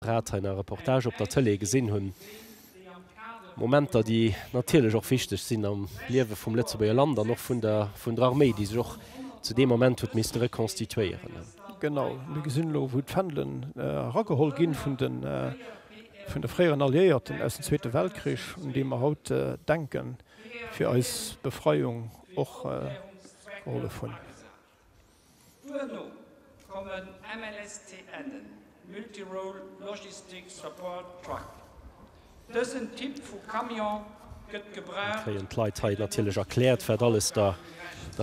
grad hei nach e Reportage op der Tëlee gesinn hunn, Momenter, déi natierlech och wichteg sinn am Liewe vum Lëtzebuerger Land an och vun der vun der Arméi, déi sech och zu deem Moment huet misste rekonstituéieren. Genau, mir gesinn elo, wou d'Fändelen erageholl gi vun de vun de fréieren Alliéierten aus dem Zweete Weltkrich, un déi mer haut denken, fir eis Befreiung och gehollef hunn. Duerno kommen MLSTNen, Multi-Role Logistic Support Truck. Dësen Typ vu Camion gëtt gebraucht fir Mir kréien d'Leit hei natierlech erkläert, wat alles der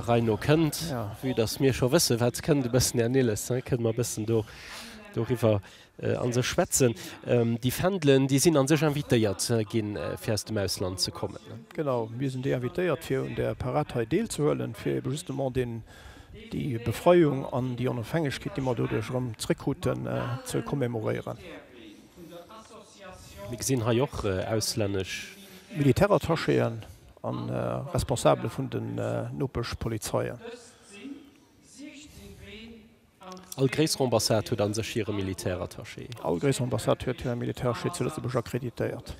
Rei no kënnt. Vue dass mir scho wëssen, wat kënnt, e bëssen, Här Nilles, kënne mer e bëssen doriwwer. an se schwätzen. Déi Fändelen, déi sinn a sech invitéiert ginn, fir aus dem Ausland ze kommen. Genau, mir sinn déi invitéiert, fir un der Parad hei deelzehuelen, fir ebe justement deen, déi Befreiung an déi Onofhängegkeet, déi mer doduerch erëm zréckkruten, ze commemoréieren. Mir gesinn hei och auslännesch. Militärattachéen a Responsabele vun den Nopeschpolizeien. All gréisser Ambassade huet a sech hire Militärattaché. All gréisser Ambassade huet hire Militärattaché zu Lëtzebuerg akkreditéiert.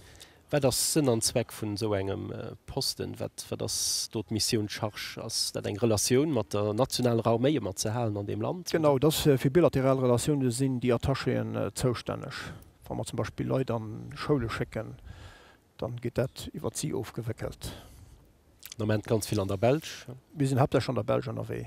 Wat ass Sënn an Zweck vun esou engem Posten? Wat ass do d'Missioun, d'Charge? Ass dat eng Relatioun mat der nationaler Arméi ëmmer ze halen an deem Land? Genau, et ass fir bilateral Relatioune. Do sinn déi Attachéen zoustänneg. Wa mer zum Beispill Leit an Schoule schécken, da gëtt dat iwwert si ofgewéckelt. Den Ament ganz vill an der Belsch? Mir sinn haaptsächlech an der Belsch ënnerwee.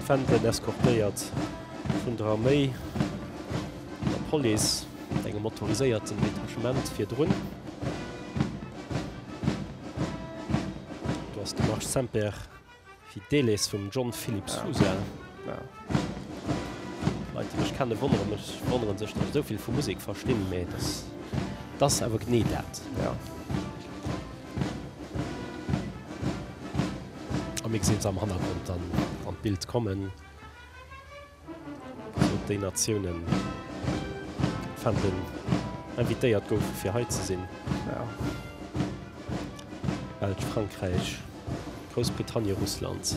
D'Fändel, eskortéiert vun der Arméi an der Police mat engem motoriséierten Detachement virdrun. Do ass de Marsch Semper Fidelis vum John Philip Sousa. Leit déi mech kennen wonneren mech wonneren sech dass ech esou vill vu Musek verstinn mee et ass et ass awer genee dat jo. A mir gesinn se am Hannergrond dann an d'Bild kommen sou déi Natiounen fannten invitéiert goufe fir hei ze sinn jo Belsch, Frankräich, Groussbritannie, Russland.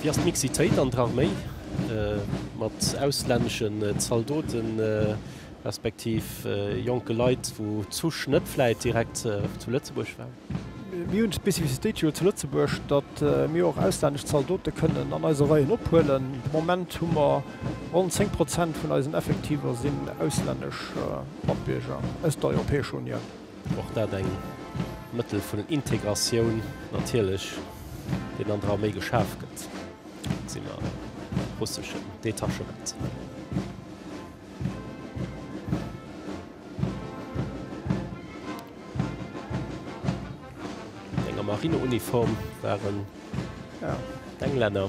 Wéi ass d'Mixitéit an der Arméi mat auslänneschen Zaldoten, respektiv jonke Leit, wou d'Zusch net vläit direkt zu Lëtzebuerg war? Mir hunn d'Specificitéit jo zu Lëtzebuerg, datt mir och auslännesch Zaldote kënnen an eise Reien ophuelen. De Moment hu mer ronn 10 Prozent vun eisen Effektiver sinn auslännesch. Matbierger aus der Europäescher Unioun. Och dat eng Mëttel vun Integratioun natierlech, deen an der Arméi geschaf gëtt. Et si mer russeschen Detachement. An enger Marineuniform waren d'Englänner.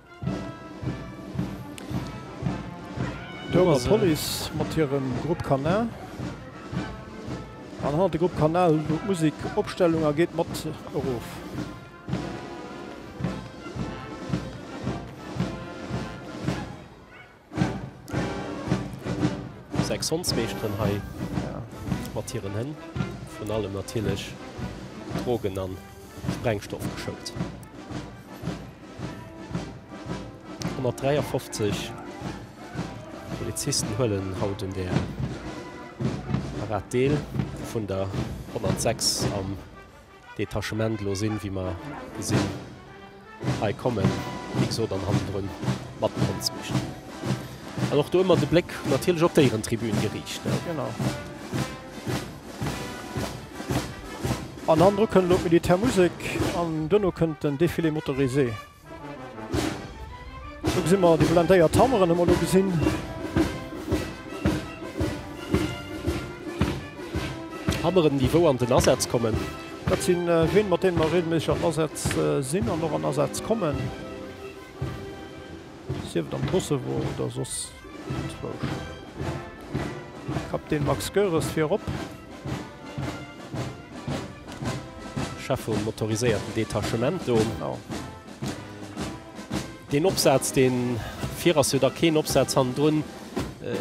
D'Ouemer Police mat hirem Groupe Canin. An hannert de Groupe Canin elo d'Musik Opstellung a geet mat erof. Sechs Hondsmeeschteren hei mat hiren Hënn, virun allem natierlech Drogen a Sprengstoff geschount. 153 Polizisten huelen haut un där Parad deel, vun der 106 am. Detachement lo sin wéi mer sin hei kommen wéi gesot an hannendrun mat den Hondsmeschten an och do emmer de Bléck natierlech op d'Éierentribün geriicht ne. Genau. An hannendru kënnt lo d'Militärmusek an duerno kënnt den Défilé motorisé. Do gesi mer déi blendéiert Hammeren emol do gesinn. Hammeren, déi wou an den Asaz kommen? Dat si Ween, mat deene mer reegelméisseg an Asaz sinn an och an Asaz kommen, sief et am Kosovo oder soss enzwousch. Kapitän Max Goeres, vir erop! Chef vum motoriséierten Detachemento. Oh. Den Opsatz, den vir ass jo da keen Opsatz hannendrun. Äh,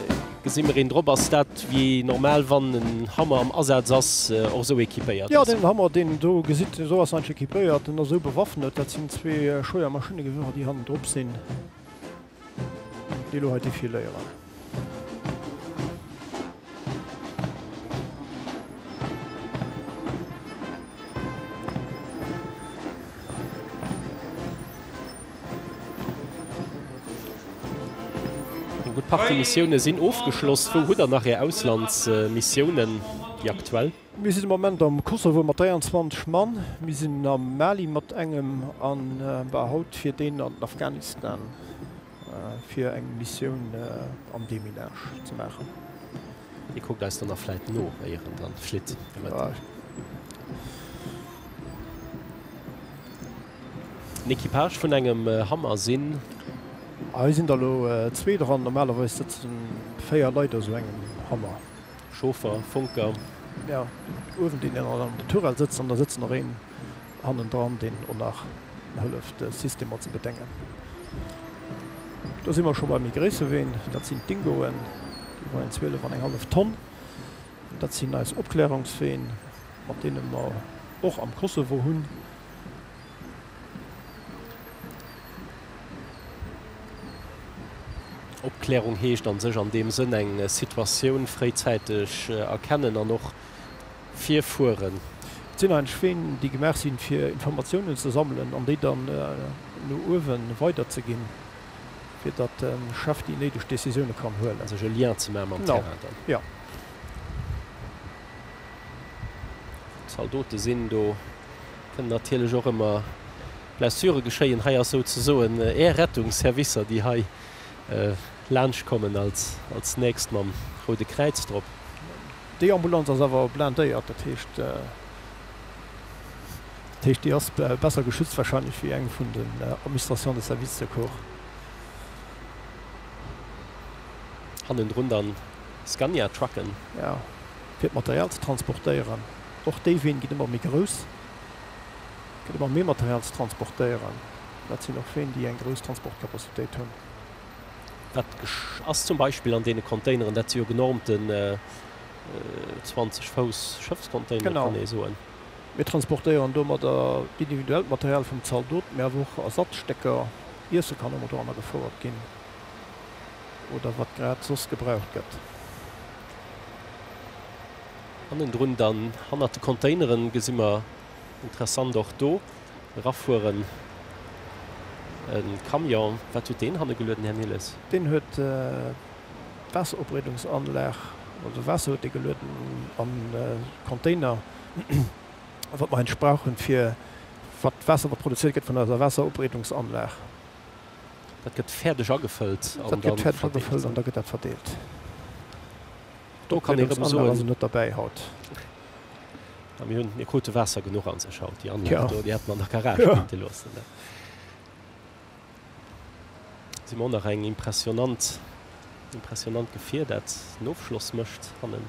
gesinn mer een drop, ass dat wéi normal, wann en Hammer am Asaz ass, äh, och esou equipéiert? Ja, den Hammer, deen en do gesitt, esou ass en eigentlech equipéiert. En ass esou bewaffnet, dat sinn zwee Scheuermaschinnegewirer, déi hannendrop sinn. Déi elo hei defiléieren. Gutt, d'Party-Missioune sinn ofgeschloss. Wou hutt Der nach Är Auslandsmissiounen, déi aktuell? Mir sinn de Moment am Kosovo mat 23 Mann, mir sinn am Mali mat engem an war haut fir deen an den Afghanistan fir eng Missioun am Deminage ze maachen. Dir kuckt eis dann nach vläit no éier en dann flitt domat? En Equipage vun engem Hummer sinn. Hei sinn der elo zwee dran, normalerweis sëtzen 4 Leit a sou engem Hummer. Chauffer, Funker. Jo, uewen deen een an de Tourelle sëtzt an da sëtzt nach een hannen dran, deen o nach hëlleft de System mat ze bedéngen. Do si mer scho bei méi gréisse Ween, dat sinn d'Dingoen, déi weien 12 an eng hallef Tonn. Dat sinn eis Opklärungsween, mat deene mer och am Kosovo hunn. Opklärung heescht a sech an deem Sënn eng Situatioun fréizäiteg erkennen an och virfueren. Et sinn eigentlech Ween, déi gemaach sinn, fir Informatiounen ze sammelen an déi dann no uewe weiderzeginn, fir datt de Chef déi néideg Décisioune kann huelen. Sech e Lien ze maache mam Terrain dann. Genau, jo. Zaldote sinn do. Kënnt natierlech och ëmmer Blessure geschéien. Hei ass sou ze soen Är Rettungsservicer, déi hei laanscht kommen als nächst mam Roude Kräiz drop. Déi Ambulanz ass awer blindéiert, dat heescht déi ass besser geschützt wahrscheinlech wéi eng vun den Administrations de service secours. Hannendrun dann Scania Trucken. Jo, fir d'Material ze transportéieren. Och déi Ween ginn ëmmer méi grouss, gëtt ëmmer méi Material ze transportéieren. Dat sinn och Ween, déi eng grouss Transportcapacitéit hunn. Dat ass zum Beispill an deene Containeren, dat si jo genormte 20 Fouss Schëffscontainere, kann ee soen. Genau. Mir transportéieren domadder individuellt Material vum Zaldot, mee awer och Ersatzstécker, Iesse kann domadder anagefouert ginn oder wat grad soss gebraucht gëtt. Hannendrun dann, hannert de Containeren, gesi mer interessant och do erafueren e Camion. Wat huet deen hanne gelueden, Här Nilles? Deen huet d'Waasseropbreedungsanlag, also Waasser huet dee gelueden an e Container, wat mer heinst brauchen, fir wat d'Waasser, wat produzéiert gëtt vun eiser Waasseropbreedungsanlag. Dat gëtt fäerdeg agefëllt an da verdeelt. Dat gëtt fäerdeg agefëllt an da gëtt dat verdeelt. Do kann ee rëm soen, mir krute Waasser genuch an sech haut. Déi aner do, déi hätt mer an der Garage kinte loossen. Do si mer och nach eng impressionant, impressionant Gefier, dat en Ofschloss mécht hannen.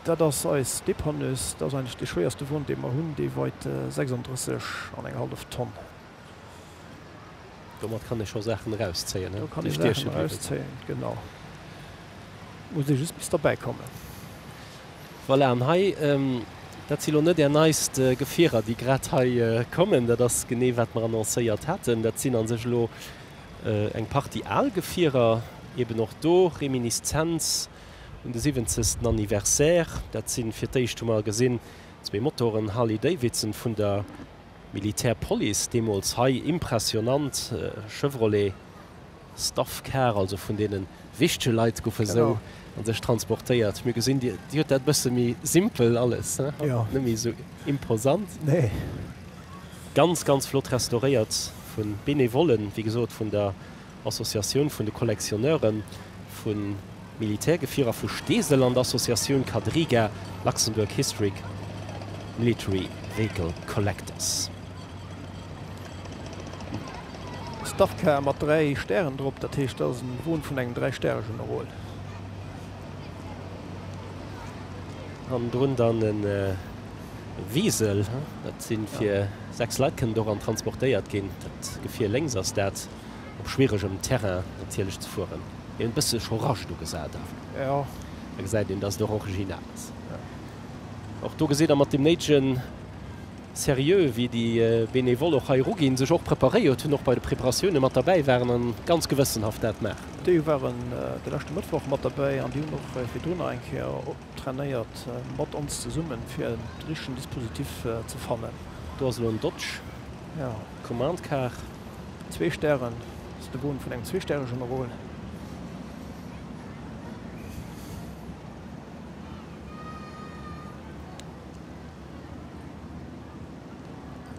Dat ass eis Depanneuse. Dat ass eigentlech dee schwéierste Won, dee mer hunn, dee weit 36 an eng hallef Tonn. Domat kann ee scho Saachen erauszéien, déi stieche bliwen. Genau. Muss ee just bis derbäi kommen. Voilà, an hei, dat si lo net Är neist Gefierer, déi grad hei kommen. Dat ass genee, wat mer annoncéiert haten. Dat sinn a sech elo eng Partie al Gefierer, eben och do Reminiszenz un de siwwenzegsten Anniversaire. Dat sinn, fir d'éischt hu mer gesinn, zwee Motoren Harley-Davidson vun der Militär Police deemols hei impressionant Chevrolet Staff Car, also vun deenen wichtege Leit goufe sou an sech transportéiert. Mir gesinn dir huet dat bësse méi simpel alles, net méi sou imposant. Ganz ganz flott restauréiert vun Benevollen, wéi gesot vun der Associatioun vun de Collectionneuren vu Militärgefier a vu Steesel an d'Associatioun Quadriga, Luxembourg Historic Military Vehicle Collectors. Starcar mat 3 Stären drop, dat heescht dat ass en Won vun engem 3 Stäre Generol. Hannendrun dann en Wiesel, dat sinn fir 6 Leit kënnt och an transportéiert ginn, dat Gefier lénks ass dat. op schwieregem Terrain natierlech ze fueren. Mir hunn e bësse Chorage do gesat awer. Da gesäit een, dass et och original ass. Och do gesitt Der mat deem néidege Seriö, wéi déi Benevole och hei eruginn, sech och preparéiert hunn, och bei de Preparatioune mat derbäi waren a ganz gewëssenhaft dat maachen. Déi waren de leschte Mëttwoch mat derbäi an déi hunn och virdrun nach eng Kéier trainéiert mat ons zesummen, fir de richtegen Dispositif ze fannen. Do ass elo en Dodge. Commande Kaart, zwee Stären, ass de Boden vun engem zweestäerege Marol.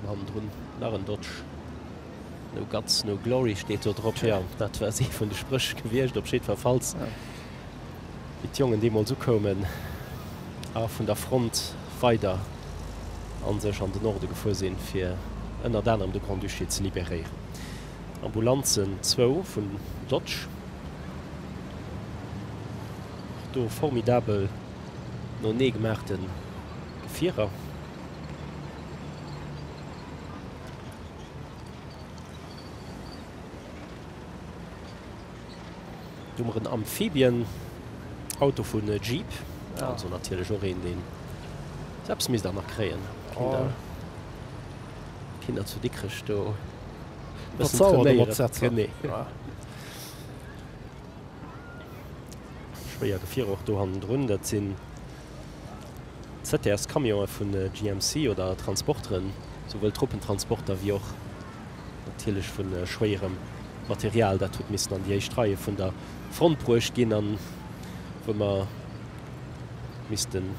Hannendrun nach en Dodge. No guts, no glory steet do drop. Tjo, dat ass ee vun de Spréch gewiescht, op jiddwerfalls. wéi d'Jongen deemools ukoumen a vun der Front weider a sech an den Norde gefuer sinn, fir ënnert anerem de Grand-Duché ze liberéieren. Ambulanzen, zwou vun Lodz, och do formidabel noenee gemaachte Gefierer. Do hu mer en Amphibien Auto vun Jeep, also natierlech och een deen, sou eppes misst der nach kréien, kinnt der, kinnt der zu Dikrech do bëssen trainéieren. Schwéier Gefierer och do hannendrun, dat sinn ZTS Camionen vun GMC oder Transporteren, souwuel Truppentransporter wéi och natierlech vu schwéierem Material, dat huet missen an déi éischt Reie vun der Front bruecht ginn a wou mer missten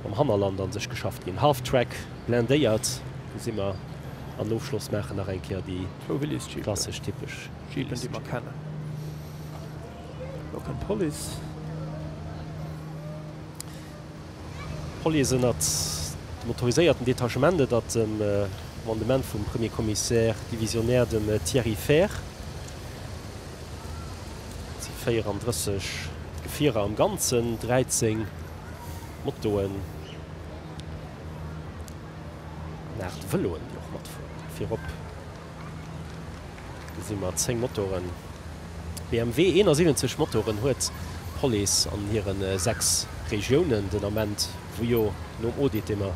mam Hannerland an sech geschafft ginn. Half-Track blindéiert, do si mer. An Ofschloss maachen nach eng Kéier déi klassesch, typesch Jeepen, déi mer kennen. Elo kënnt d'Police. D'Police ënnert dem autoriséierten Detachement et at dem Commandement vum Premier Commissaire divisionnaire, dem Thierry Fehr. Et si 34 Gefierer am Ganzen, 13 Motoen an 8 Vëloen, déi och matfueren. Virop. Do si mer 10 Motoren. BMW 71 Motoren huet d'Police an hire 6 Regiounen den Ament, wou jo nom Audit, dee mer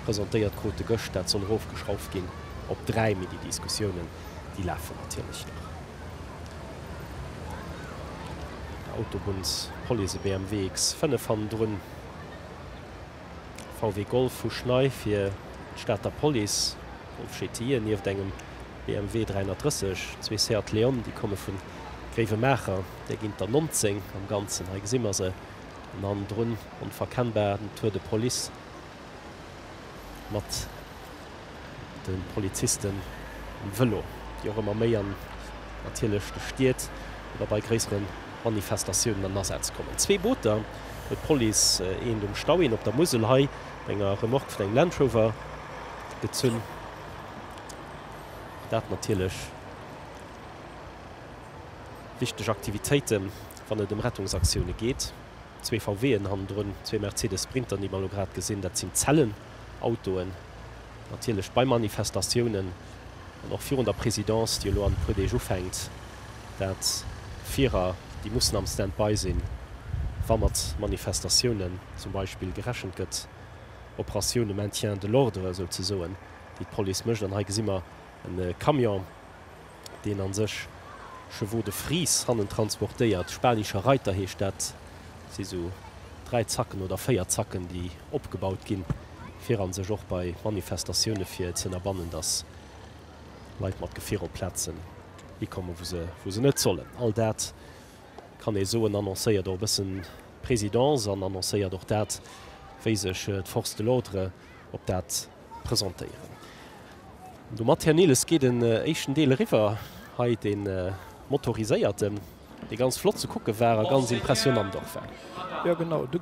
presentéiert krute gëscht, dat soll erofgeschrauft ginn op 3. Mee déi Diskussiounen, déi lafen natierlech nach. Autobunnspolice, e BMW X5 hannendrun. VW Golf vu Schnei fir d'Stater Police, Golf GTI, en nieft engem BMW 330, zwee Seat Leon, déi komme vun Gréiwemaacher, där ginn et der 19 am Ganzen, hei gesi mer se, an hannendrun onverkennbar den Tour de Police mat. den Polizisten um Vëlo, déi och ëmmer méi an natierlech de Stied oder bei gréissere Manifestatiounen an Asaz kommen. Zwee Booter huet d'Police, eent um Stau, eent op der Musel, hei op enger Remorque vun engem Land Rover gezunn. Dat natierlech wichteg Aktivitéiten, wann et ëm Rettungsaktioune geet. Zwee VW-en hannendrun, zwee Mercedes Sprinter, déi mer elo grad gesinn, dat sinn Zellenautoen. Natierlech bei Manifestatiounen an och virun der Présidence, déi elo an e puer Deeg ufänkt, dat Fierer, déi mussen am Standby sinn, wa mat Manifestatiounen zum Beispill gerechent gëtt, Operatioun de maintien de l'ordre souzesoen, déi d'Police mécht. An hei gesi mer e Camion. deen a sech Chevaux de Frise hannen transportéiert, Spanischer Reiter heescht dat, si esou dräi Zacken oder véier Zacken, déi opgebaut ginn, fir a sech och bei Manifestatioune fir ze ënnerbannen, datt Leit mat Gefier op Plazen hikomme wou se net sollen. All dat kann ee soen, annoncéiert och e bëssen d'Présidence an annoncéiert och dat, wéi sech d'Forces de l'ordre op dat presentéieren. Domat, Här Nilles, geet en éischten Deel eriwwer, hei dee motoriséierten, dee ganz flott ze kucke war a ganz impressionnant och war. Jo, genau, de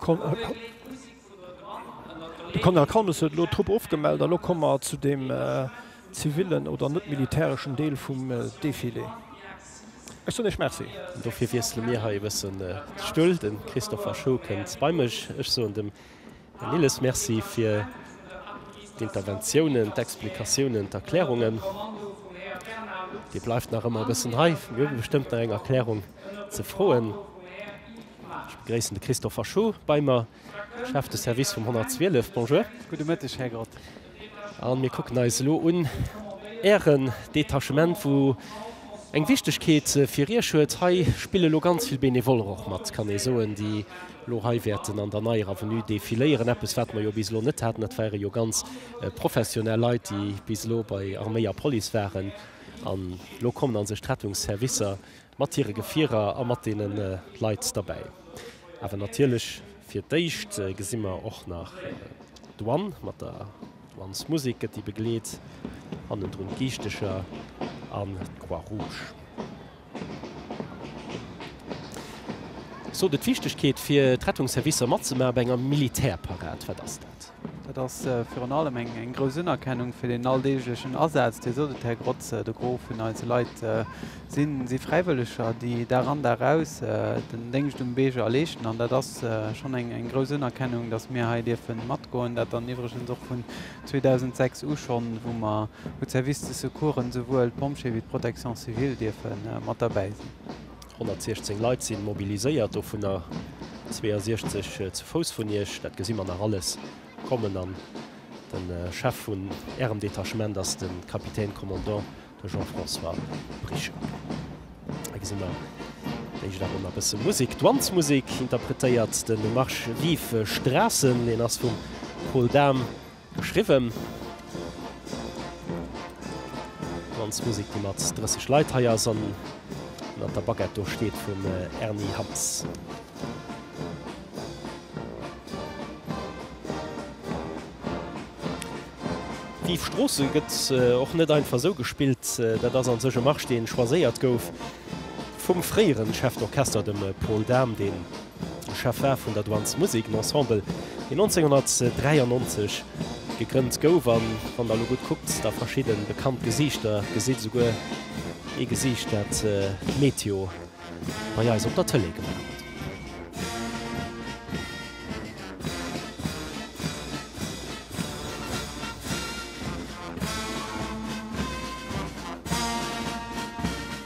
Colonel Kaunus huet elo d'Trupp ofgemellt a elo komme mer zu deem zivillen oder net-militäreschen Deel vum Defilé. Ech soen Iech Merci. Dofir wiessele mir hei e bëssen de Stull, de Christopher Scho kënnt bei mech. Ech soen dem Här Nilles, Merci fir d'Interventiounen, d'Explikatiounen, d'Erklärungen. Dir bleift nach ëmmer e bëssen hei. Mir hu bestëmmt nach eng Erklärung ze froen. Ech begréissen de Christophe Verschoor bei mer, Chef de Service vum 112. Bonjour. Gudde Mëtteg, Här Grott. A mir kucken eis elo un Ären Detachement, wou eng Wichtegkeet fir Iech huet. Hei spille elo ganz vill Benevoller och mat, kann ee soen, déi elo hei wäerten an der neier Avenue defiléieren. Eppes, wat mer jo bis elo net haten. Dat ware jo ganz professionell Leit, déi bis elo bei Arméi a Police waren. An elo kommen a sech d'Rettungsservicer. Mat hire Gefierer a mat deene Leit derbäi. Awer natierlech fir d'éischt gesi mer och nach d'Douane. Mat der Douanesmusek gëtt déi begleet. Hannendrun d'Giischtecher an d'Croix Rouge. Sot et, D'Wichtegkeet fir d'Rettungsservicer matzemaache bei enger Militärparad, wat ass dat? Dat ass virun allem eng grouss Unerkennung fir den alldeeglechen Asaz, dee sot et, Här Grotz. De Gros vun eise Leit si Fräiwëlleger, déi Dag an Dag aus den Déngscht um Beeger leeschten. An dat ass schonn eng grouss Unerkennung, datt mir hei dierfe matgoen. Dat dann iwwregens och vun 2006 u schonn, wou mer u Services de secours esouwuel d'Pompjeeë wéi d'Protection civile dierfe mat derbäi sinn. 116 Leit sinn mobiliséiert, dovunner 62 zu Fouss vun Iech. Dat gesi mer nach alles kommen. An de Chef vun Ärem Detachement ass de Capitaine Commandant, de Jean-François Bricher. Hei gesi mer d'éischt awer nach e bësse Musek. D'Wandsmusek interpretéiert de Marsch Vive Strassen. Deen ass vum Paul Dahm Geschriwwen Danzmusek déi mat 30 Leit hei ass an ënnert der Baguette do steet vum Erny Hammes. D'Yves Stroossen gëtt och net einfach esou gespillt. Dat ass an sech e Marsch deen choiséiert gouf vum fréieren Chef d'Orchester dem Paul Dahm deen Chef war vun der Douane's Musik, en Ensemble, deen 1993 gegrënnt gouf. A wann Der elo gutt kuckt, da verschidde bekannt Gesiichter gesitt, esouguer ee Gesiicht, dat d'Meteo bei eis op der Tëlee gemaach huet.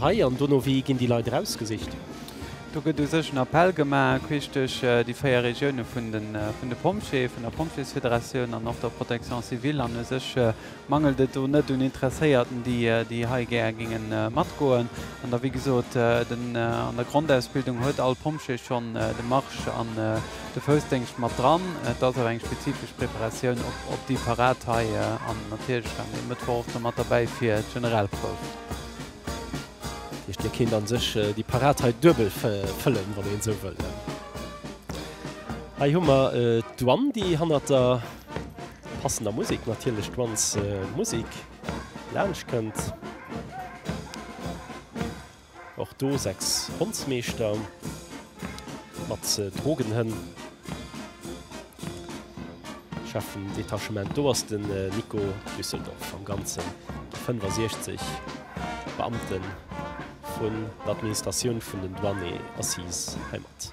Hei an dono, wéi ginn déi Leit erausgesicht? Do gëtt u sech en Appell gemaach, queesch duerch déi véier Regioune vun de Pompjeeë, vun der Pompjeesfederatioun an och der Protection civile. An u sech mangelt et do net un Interesséierten, déi hei gär géinge matgoen. An da, wéi gesot, an der Grondausbildung huet all Pompjee schonn de Marsch. De Foussdéngscht mat dran. Et ass awer eng spezifesch Preparatioun op déi Parad hei an natierlech dann e Mëttwoch och nach mat derbäi fir d'Generalprouf. Dat heescht, Dir kéint a sech déi Parad hei duebel fëllen, wann een esou wëll. Hei hu mer d'Douane, déi hannert der passender Musek natierlech, d'Douanesmusek, laanschtkënnt. Och do 6 Hondsmeeschter mat Drogenhënn schaffen Detachement. Do ass den Nico Düsseldorf am ganzen 65 Beamten vun der Administratioun vun den Douane Assise heimat.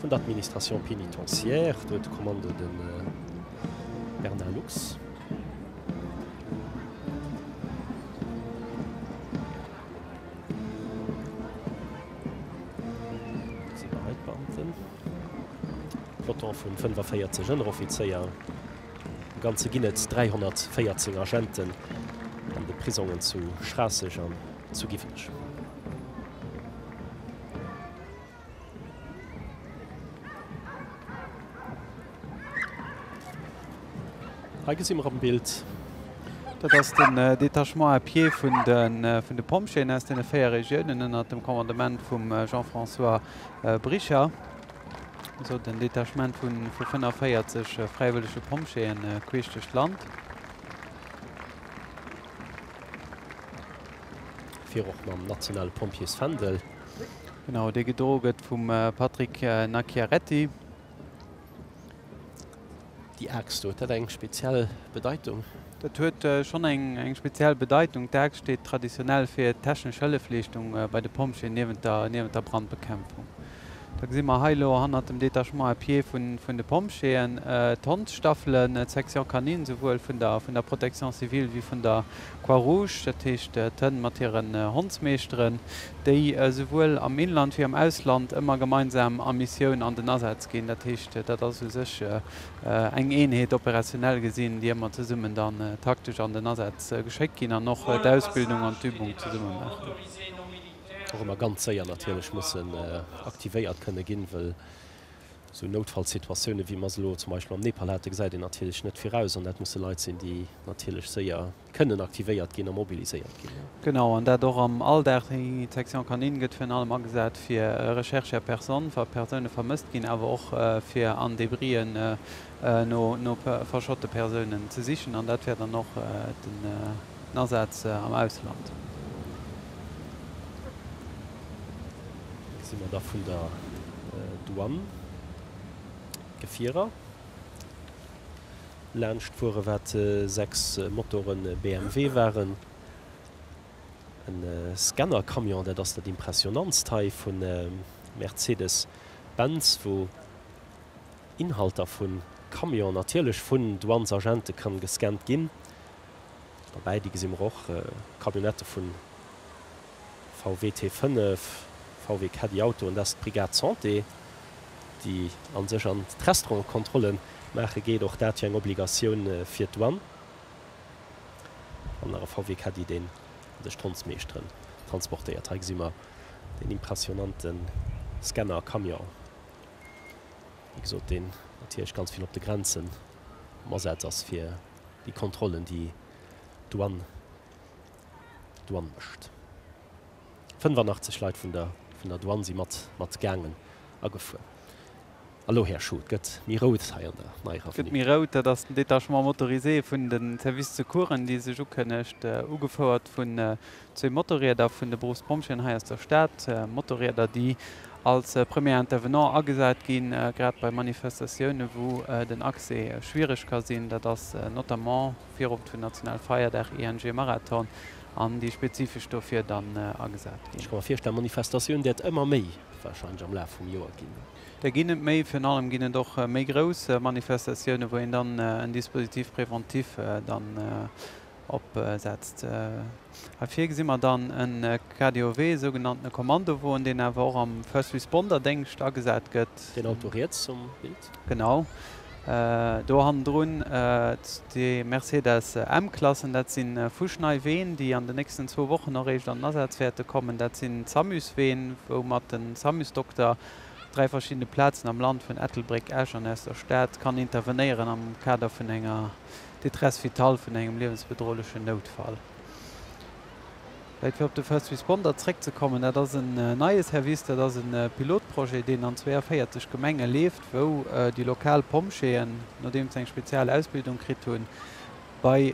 Vun der Administration pénitentiaire huet d'Kommando de Bernard Lux. Peloton vun 45 Ënneroffizéier. Am Ganze ginn et 314 Agenten an de Prisongen zu Schraasseg an zu Giwenech. Hei gesi mer am Bild. Dat ass den Détachement à pied vun de Pompjeeën aus deene véier Regiounen ënnert dem Commandement vum Jean-François Bricher. Esou den Detachement vu 45 fräiwëllege Pompjeeën queesch duerch d'Land. Vir och mam nationale Pompjeesfändel. Genau, dee gedro gëtt vum Patrick Nacchiaretti. Déi Aaxt do, huet dat eng speziell Bedeitung? Dat huet schonn eng speziell Bedeitung. D'Aaxt steet traditionell fir d'technesch Hëllefleeschtung bei de Pompjeeën niewent der Brandbekämpfung. Da gesi mer hei elo hannert dem Détachement à pied vun de Pompjeeën d'Hondsstaffelen, d'Section Canine, souwuel vun der Protection civile wéi vun der D'Croix-Rouge, dat heescht d'Hënn mat hiren Hondsmeeschteren, déi souwuel am Inland wéi am Ausland ëmmer gemeinsam a Missioun an den Asaz ginn. Dat heescht, dat ass u sech eng Eenheet, operationell gesinn, déi ëmmer zesummen dann taktesch an den Asaz geschéckt ginn an och d'Ausbildung an d'Übung zesumme maachen. Och ëmmer ganz séier natierlech mussen aktivéiert kënne ginn, wëll Sou Noutfallssituatioune wéi mer se elo zum Beispill am Nepal haten, gesäit een natierlech net viraus. An dat musse Leit sinn, déi natierlech séier kënnen aktivéiert ginn a mobiliséiert ginn. Genau, an dat och am Alldag. Déi Section Canine gëtt virun allem agesat fir Recherche à personne, wa Persoune vermësst ginn, awer och fir an Debrien no verschotte Persounen ze sichen. An dat wär dann och den. Den Asaz am Ausland. Si mer da vun der Douane. Gefierer laanscht fuere wat 6 Motore BMW waren. E Scannercamion, dat ass dat impressionantst hei vu Mercedes Benz, wou Inhalter vu Camionen natierlech vun Douanesagente kann gescannt ginn. Derbäi di gesi mer och Camionnettë vun VW T5, VW Caddy Auto an dat ass d'Brigade Santé di an sech an d'Restaurante Kontrolle maache geet. Och dat jo eng Obligatioun fir d'Douane. An nach e VW Caddy deen an sech d'Hondsmeeschteren transportéiert. Hei gesi mer den impressionante Scanner Camion, wéi gesot deen natierlech ganz vill op de Grenzen am Asaz ass fir déi Kontrollen, déi d'Douane mécht. 85 Leit vun der Douane si mat gaangen a gefuer. A lo, Här Schoo, et gëtt méi rout hei an der neier Avenue. Et gëtt méi rout, dat ass den Détachement motorisé vun de Service Secoursen, dee sech ukënnegt, ugefouert vun Zwee Motorrieder vun de Beruffspompjeeën hei aus der Stad. Motorrieder, déi als Premier Intervenant agesat ginn, grad bei Manifestatiounen, wou den Accès schwiereg ka sinn. Dat ass notamment Virowend vun National Feierdag, ING Marathon an déi spezifesch dofir dann agesat Ech ginn. ka mer virstellen, Manifestatioun däert ëmmer méi wahrscheinlech am Laf vum Joer ginn. Der ginn et méi. Virun allem ginn et och méi grouss Manifestatiounen, wou een dann en Dispositif préventif dann opsetzt. Heifir gesi mer dann e KDOW, e sougenannte Kommandowoen, deen awer och am First Responder Déngscht agesat gëtt. Deen Auto riets um Bild. Genau do hannendrun déi Mercedes M-Klassen. Dat si fuschnei Ween, déi an den nächsten zwou Wochen och eréischt an den Asaz wäerte kommen. Dat sinn d'Samus-Ween, woumat den Samus-Dokter op dräi verschiddene Plazen am Land, vun Ettelbréck, Esch an aus der Stad, kann intervenéieren am Kader vun enger. Détresse vitale vun engem liewensbedrohlechen Noutfall. Vläit fir op de First Responder zréckzekommen, dat ass en neie Service, dat ass e Pilotprojet, deen an 42 Gemenge leeft, wou déi lokal Pompjeeën, nodeem se eng spezial Ausbildung kritt hunn, bei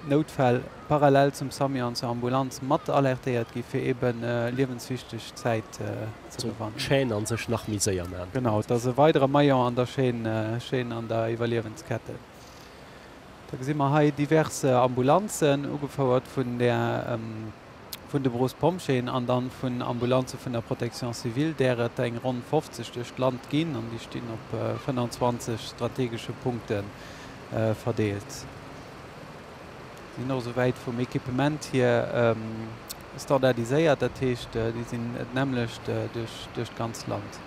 Noutfäll parallel zum Sami an zur Ambulanz mat alertéiert gi fir eebe liewenswichteg Zäit Chaîne an sech nach méi séier maan. Genau, et ass e weidere Maillon an der Chaîne, an der Iwwerliewenskette. Da gesi mer hei divers Ambulanzen, ugefouert vun där vun de Brospompjéen an dann vun Ambulanze vun der Protection civile, där et eng ronn 50 duerch d'Land ginn, an déi stinn op 25 strategesche Punkte verdeelt. Sinn och esouwäit vum Equipement hier. Standardiséiert, dat heescht, déi sinn d'nämmlecht duerch d'ganz Land.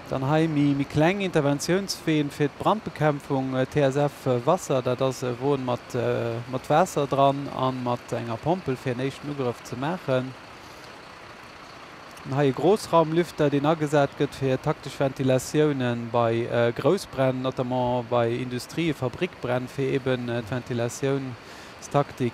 Dann hei méi kleng Interventiounsween fir d'Brandbekämpfung, TSF Wasser, dat ass e Won mat Waasser dran a mat enger Pompel, fir en éischten Ugrëff ze maachen. Dann hei e Groussraumlüfter, deen agesat gëtt fir taktesch Ventilatiounen bei Groussbränn, notamment bei Industrie-, Fabrikbränn, fir eeben d'Ventilatiounstaktik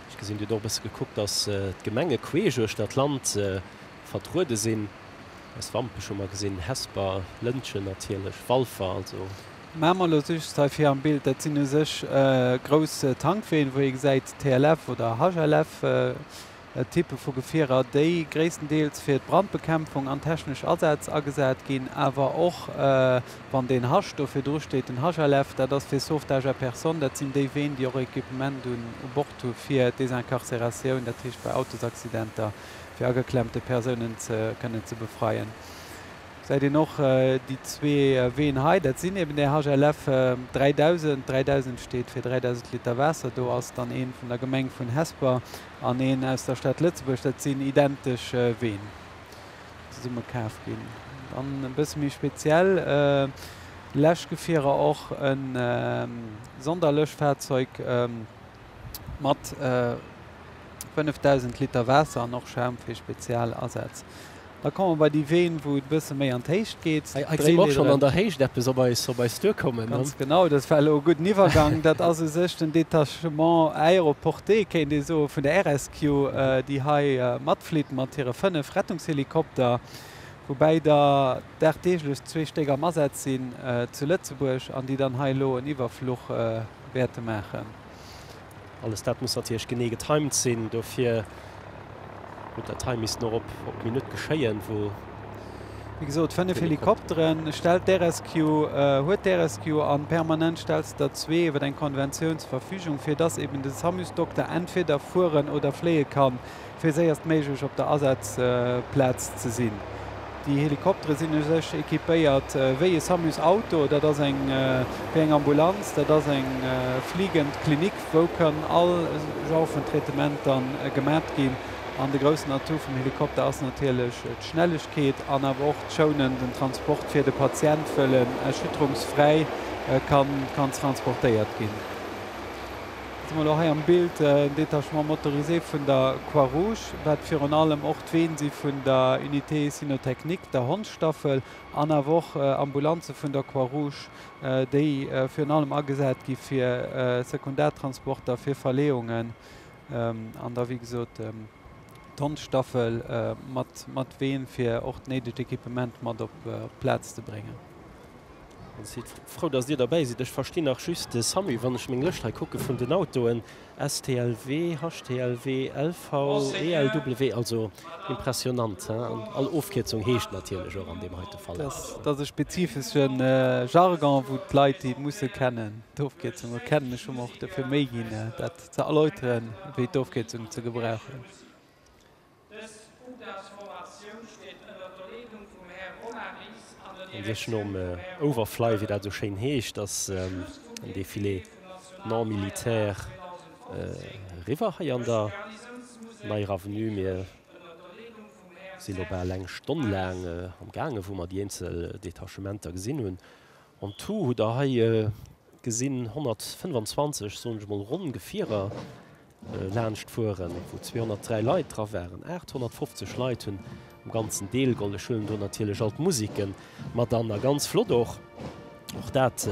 Ech gesinn, Dir hutt och e bësse gekuckt, dass d'Gemenge queesch uechter d'Land vertruede sinn. Aus Wampech hu mer gesinn, Hesper, Lëntgen natierlech, Walfer also. Mamer elo just hei vir am Bild, dat sinn u sech grouss Tankween, wou ee gesäit TLF oder HLF Typpe vu Gefierer, déi gréisstendeels fir d'Brandbekämpfung an technesch Asätz agesat ginn, awer och Wann deen Hasch do virdru steet, den Hasch à lèvres, dat ass fir Sauvetage à personne, dat sinn déi Ween, déi och Equipement un Bord hu fir Desincarcératioun, dat heescht bei Autosaccidenter, fir ageklemmte Persounen ze kënnen ze befreien. Gesäit een och déi zwee Ween hei, dat sinn eben där Hasch à lèvres 3000, 3000 steet fir 3000 Liter Waasser, do ass dann een vun der Gemeng vun Hesper an een aus der Stad Lëtzebuerg, dat sinn identesch Ween. Zesumme kaf ginn. Dann e bësse méi speziell Läschgefierer, och e Sonderlöschfahrzeug mat 5.000 Liter Waasser an och Schaum fir spezial Asätz. Da komme mer bei déi Ween, wou et e bësse méi an d'Héicht geet. Hei gesi mer och schonn an der Héicht eppes op eis duerkommen. Ganz genau, dat war elo e gudden Iwwergang. Dat ass u sech den Detachement aéroporté, kéint ee soen, vun der RS Rescue, déi hei matflitt mat hire fënnef Rettungshelikopter, woubäi der dagdeeglech zwee Stéck am Asaz sinn zu Lëtzebuerg an déi dann hei elo en Iwwerfluch wäerte maachen. Alles dat muss natierlech genee getimed sinn, dofir huet dat hei missten och op d'Minutt geschéien, wou Wéi gesot 5 Helikopteren stellt d'RScue, huet d'RScue an permanent stellt se der zwee iwwer eng Konventioun zur Verfügung, fir dass eben den Samus-Dokter entweder fueren oder fléie kann, fir séierst méiglech op der Asazplaz ze sinn. Déi Helikoptere sinn u sech equipéiert wéi e Samus-Auto. Dat ass eng wéi eng Ambulanz. Dat ass eng fligend Klinik, wou kënnen all Genre vun Traitementer gemat ginn. An de groussen Atout vum Helikopter ass natierlech d'Schnellegkeet an awer och d'Schounen, den Transport fir de Patient wëll en erschütterungsfräi kann transportéiert ginn. Gëtt emol och hei am Bild en Détachement motorisé vun der Croix Rouge, wat virun allem och d'Ween si vun der Unité cynotechnique, der Hondsstaffel, an awer och Ambulanze vun der Croix Rouge, déi virun allem agesat gi fir Sekundartransporter, fir Verleeungen. an da wéi gesot d'Hondsstaffel mat Ween, fir och d'néidegt Equipement mat op d'Plaz ze bréngen. Ech si frou, datt Dir derbäi sidd. Ech verstinn nach just de Sammy, wann ech meng Lëscht hei kucke vun den Autoen, STLW, HTLW, LV, ELW, also impressionant, he? An all Ofkierzung heescht natierlech och an deem heite Fall eppes. Dat ass e spezifesche Jargon, wou d'Leit déi musse kennen, d'Ofkierzunge kennen. Ech hu mer och dofir Méi ginn, dat ze erläuteren, wéi d'Ofkierzung ze gebrauchen. Sech nom Overfly, wéi dat esou schéin heescht, ass den Defilé non militaire eriwwer hei an der neier Avenue. Mir si lo bal eng Stonn laang am gaange wou mer déi eenzel Detachementer gesinn hunn En tout hutt der hei gesinn 125, soen ech mol ronn, Gefierer laanscht fueren, wou 203 Leit dra waren. 850 Leit hunn am Ganzen deelgeholl. Ech huelen do natierlech all d'Musikke mat an. A ganz flott och, och dat,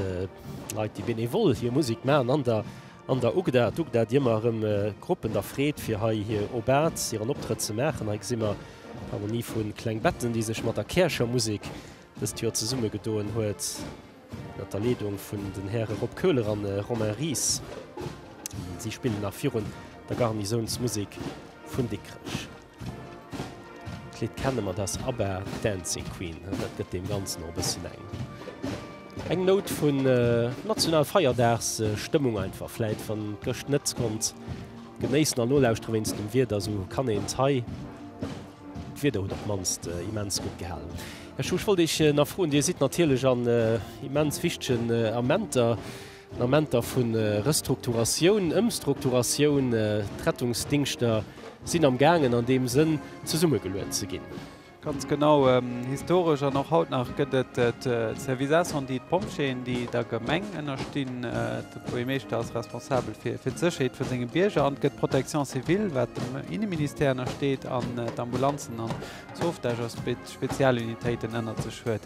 Leit, déi benevol hir Musek maachen an der, an der UGDA. D'UGDA, déi ëmmer erëm Gruppen da freet, fir hei hir Obats, hiren Optrëtt ze maachen. Hei gesi mer d'Harmonie vu Klengbetten, déi sech mat der Käercher Musek dëst Joer zesumme gedoen huet, ënnert der Leedung vun den Häre Rob Köhler an Romain Ries. Si spillen nach virun der Garnisounsmusek vun Dikrech. D'Lidd kenne mer, dat ass ABBA, Dancing Queen. Dat gëtt deem Ganzen och e bësschen eng, eng Nout vun Nationalfeierdagsstëmmung einfach. Vläit, wann een d'Gëscht net konnt genéissen an nolauschtere wéinst dem Wieder, esou kann een d'Hei, D'Wieder huet op d'mannst immens gutt gehalen. Här Schuh, ech wollt Iech nach froen, Dir sidd natierlech an immens wichtegen Amenter, an Amenter vu Restrukturatioun, Ëmstrukturatioun. D'Rettungsdingschter sinn am gaangen an deem Sënn zesummegeluecht ze ginn. Ganz genau. Historesch an och haut nach gëtt et d'Services-incendies, d'Pompjeeën, déi der Gemeng ënnerstinn. Buergermeeschter ass responsabel fir d'Sécherheet vu senge Bierger an gëtt d'Protection civile, wat dem Inneministère ënnersteet, an d'Ambulanzen an d'Sauvetage ass, wéi d'Spezialunitéiten ënnert sech huet.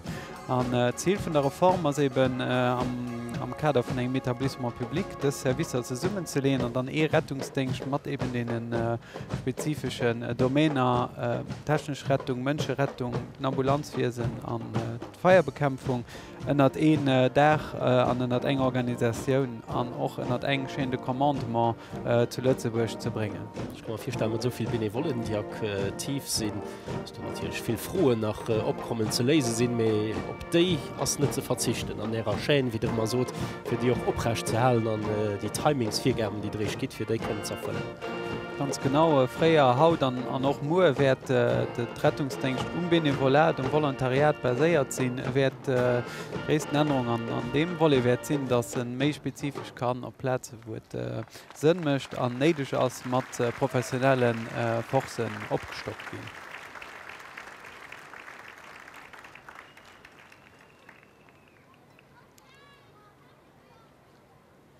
An d'Zil vun der Reform ass eben, am Kader vun engem Etablissement public dës Servicer zesummenzeleeën an dann ee Rettungsdéngscht mat eben deene spezifeschen Domainer, technesch Rettung, Mënscherettung, den Ambulanzwiesen an d'Feierbekämpfung, ënnert een Daach an ënnert eng Organisatioun an och ënnert eng Chaîne de commandement zu Lëtzebuerg ze bréngen. Ech ka mer virstellen, mat esou vill Benevollen, déi aktiv sinn, dass do natierlech vill Froen nach opkommen, ze léise sinn. Mee op déi ass net ze verzichten an Ärer Chaîne, wéi Der ëmmer sot, fir déi och oprecht ze halen an déi Timingsvirgaben, déi Der Eech gitt, fir déi kënnen ze erfëllen. Ganz genau, fréier, haut an och muer wäert de Rettungsdéngscht um Benevolat, um Volontariat baséiert sinn. E wäert, déi gréissten Ännerung an deem Volet wäert sinn, datt e méi spezifesch kann op Plaze wou et Sënn mécht an néideg ass, mat professionelle Forcen opgestockt ginn.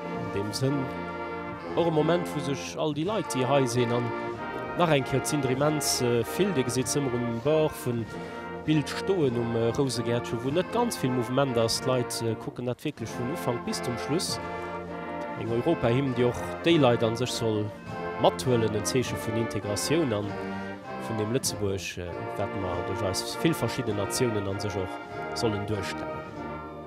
An deem Sënn och e Moment, wou sech all déi Leit, déi hei sinn, an nach eng Kéier z'Inter immens vill, Dir gesitt se ëmmer um Bord vum Bild stoen, um Rousegäertchen, wou net ganz vill Mouvement ass, d'Leit kucken dat wierklech vum Ufank bis zum Schluss, eng Europahymn, déi och déi Leit a sech soll mathuelen, en Zeeche vun Integratioun a vun deem Lëtzebuerg, wat mer duerch eis vill verschidden Natiounen a sech och sollen duerstellen.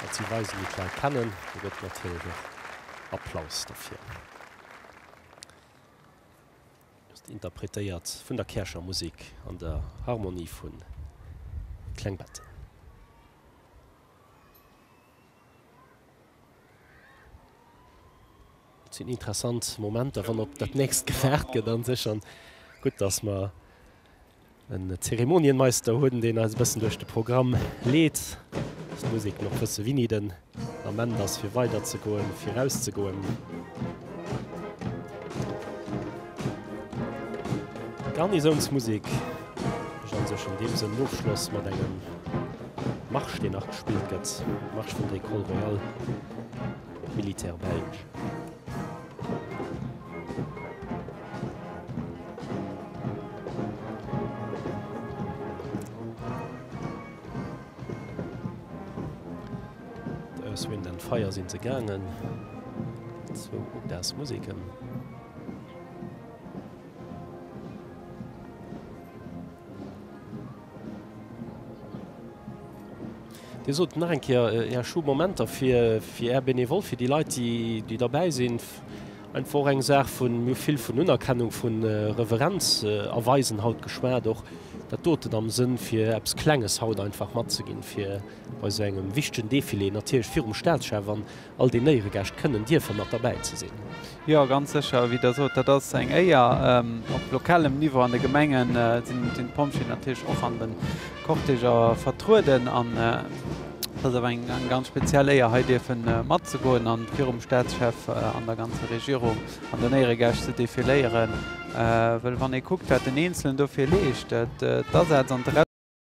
Datt si weisen, déi d'Leit kennen, do gëtt natierlech och Applaus dofir. Just interpretéiert vun der Käercher Musek an der Harmonie vu Klengbetten. Et sinn interessant Momenter, wann op dat nächst gewaart gëtt a sech. An gutt, datt mer En Zeremonienmeister huet en deen eis e bëssen duerch de Programm leet. Ass d'Musek nach wësse wini den Ament ass fir weider ze goen, viraus ze goen. D'Garnisounsmusek mécht an sech an deem Sënn Ofschloss mat engem Marsch deen nach gespillt gëtt, Marsch vun der Ecole Royale Militaire Belge. Aus Wind and Fire sinn se gaangen, zwou Jazz Museken. Dir sot nach eng Kéier Är Show Momenter fir fir Är Benevole, fir déi Leit, déi déi derbäi sinn, einfach och eng Saach vun mir hu vill vun Unerkennung, vu Reverenz erweisen haut geschwat, och dat doten am Sënn fir eppes Klenges haut einfach matzeginn, fir bei esou engem wichtegen Defilé natierlech virum Staatschef an, All déi Néieregäscht kënnen dierfe mat derbäi ze sinn. Jo, ganz sécher. Wéi Der sot, dat ass eng Éier. Op lokalem Niveau an de Gemengen sinn d'Pompjeeën natierlech och an de Cortéger vertrueden. An et ass awer eng ganz speziell Éier, hei dierfe matzegoen a virum Staatschef an der ganzer Regierung an den Éieregäscht ze defiléieren. Well wann ee kuckt, wat den Eenzelen dofir leescht, d'Asaz an d'Re.